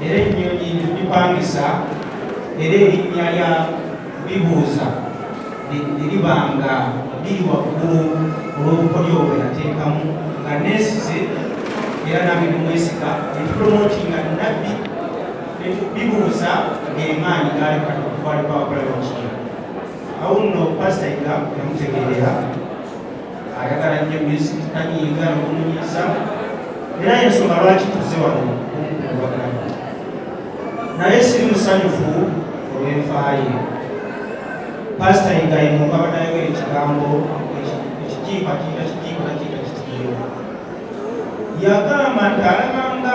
era ennyonyi tugipangisa era erinnya lya bibuuza neriba nga liri waggulu olw'obukodyo bwe nateekamu nga neesize era nabwe nimwesiga netupromotinga nabbi bibuuza ng'emaanyi gaali kati okutwalibwa abakola bakiri awo nno pasita iga yamutegeerera ayagala nnyo music tanyiiga nokumunyiza era yensonga lwaki tuze wano okumukubagana naye siri musanyufu olwenfaaye pasita yigayi mukabada yogera ekigambo ekijiipa kiita kijiipa nakiita kitiyo yagamba nti alabanga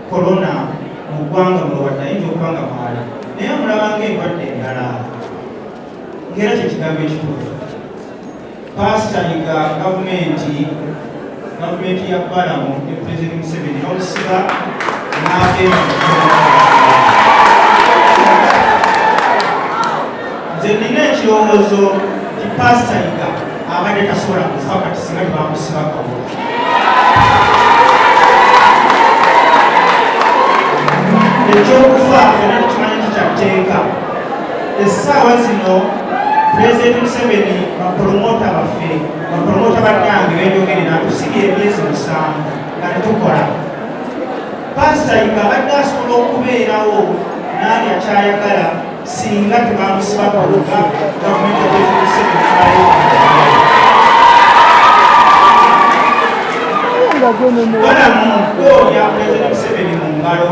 kolona mu ggwanga mulowadde ayinza okuba nga mwali naye amulabanga endwadde endala ngaera kyekigambo ekituufu Baasitanika gavumenti gavumenti ya Balamu ne Pulezidenti Museveni n'olusiba n'agenda nze nina ekirowoozo nti paasita yiga abadde tasobola kufa kati singa tebamusiba kabola ekyokufa era tukimanyi nti kyatteeka essaawa zino pulezidenti museveni bapolomota baffe bapolomota bannange benyogere natusibye emyezi musanvu nga tetukola pasita yiga abadde asobola okubeerawo naali akyayagala singa tebamusiba kuluga gavumenti eezimuseveni walamu oya pulezidenti museveni mu ngalo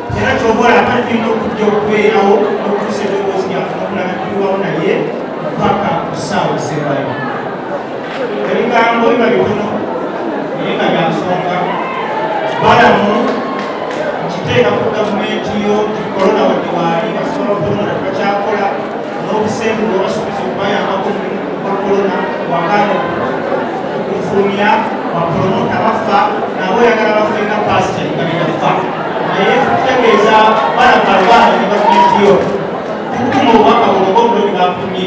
era kyobola ate tulina okujja okubeerawo okutuusa eddoboozi lyaffe okulaba tuliwawo naye mpaka ku ssaawa esembayo ebigambo biba bitono naye nga byansonga balamu nkiteeka ku gavumenti yo kikolona wadde waali basobola okulonda tebakyakola n'obusente bwebasuubiza okubayambako mu mulimu gwa kolona wakano okufulumya bapromota bafa nabo oyagala bafe nga pasita nga beyafa naye tutegeeza balaba lwana ne gavumenti yo tukuma obubaka buno bobuloni bakumye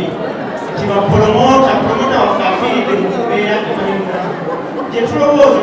nti bapromota promota waffe afiiridde mu kubeera gyetulowooza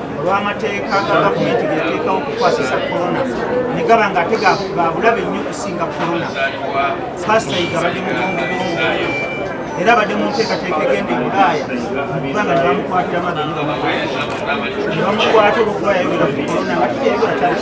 olw'amateeka ga gavumenti geyateekawo okukwasisa korona ne gaba nga ate gabulabe nnyo okusinga korona pasita yiga badde mubongobongo era abadde mu nteekateeka egenda ebulaaya mukubanga nebamukwatira maga nebamukwata olwokuba yayogera ku korona nga kiteyogola kyali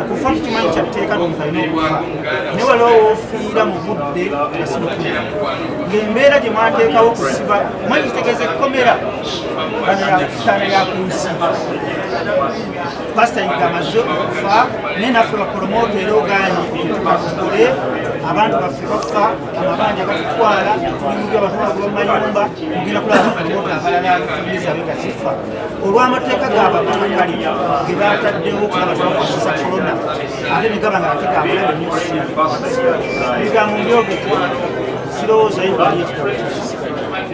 okufa tukimanyi kyatteeka newalowoofiira mu budde ngaembeera gye mwateekawo kusiba manyi kitegeeza ekkomera banayakusaana yakunsi pasita yiga amaze okufa naye naffe bapromoota era oganye tukole abantu baffe bafa amabanja batutwala tulimuga abantu bagoba mu mayumba mugenda kulaba bapromoota abalala famire zaabwe nga zifa olw'amateeka ga bamakakkali ge baataddewo okulaba tebakozesa kolona ate ne gaba nga ate gaabulabe nnyo ebigambo mbyogeke sirowooza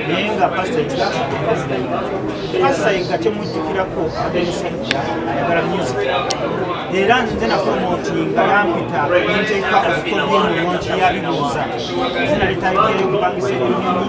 naye nga pasita pasita yega temujjukirako abemusajja ayagala music era nze napromotinga yampita nenteeka ofukodemu munti yabibuuza zina litayiteeyo kubangisa ebinyonyi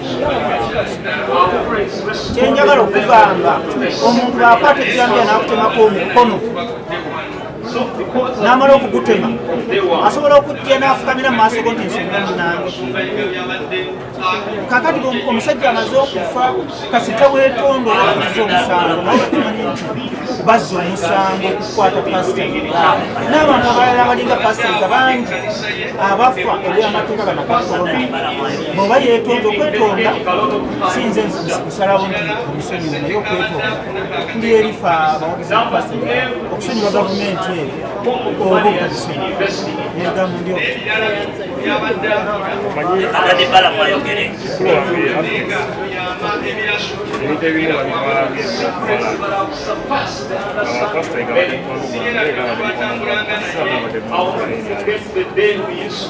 kyenjagala okugamba omuntu akwata ekirambira nakutemako omukono namala okugutema asobola okujja nafukamira mumaaso go nti nsonga munange kakati omusajja amaze okufa kasita wetondola amaze omusango nawekimanyi nti bazza omusango okukwata pasita n'abantu abalala abalinga pasita nga bangi abafa ebyamateeka ganakakona bwoba yetonda okwetonda sinze kusalawo nti omusonyiwa naye okwetonda tuli erifa abawagizi okusonyiwa gavumenti eyo oba ogagisonyiwaegambo ndio Thank you.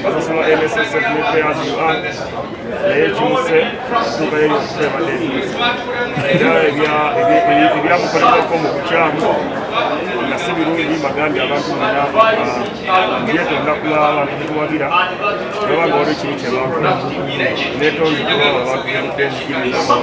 Basasula MSSF ne players you are naye kimuse tuka yeri okufe badeni era ebyamukolerwako mu bukyamu nga si birungi bagambye abantu bana byetonda kula abantu betuwagira oba nga waliwo kibi kyebakola netonzi kuba abantu bemudeni kibinamu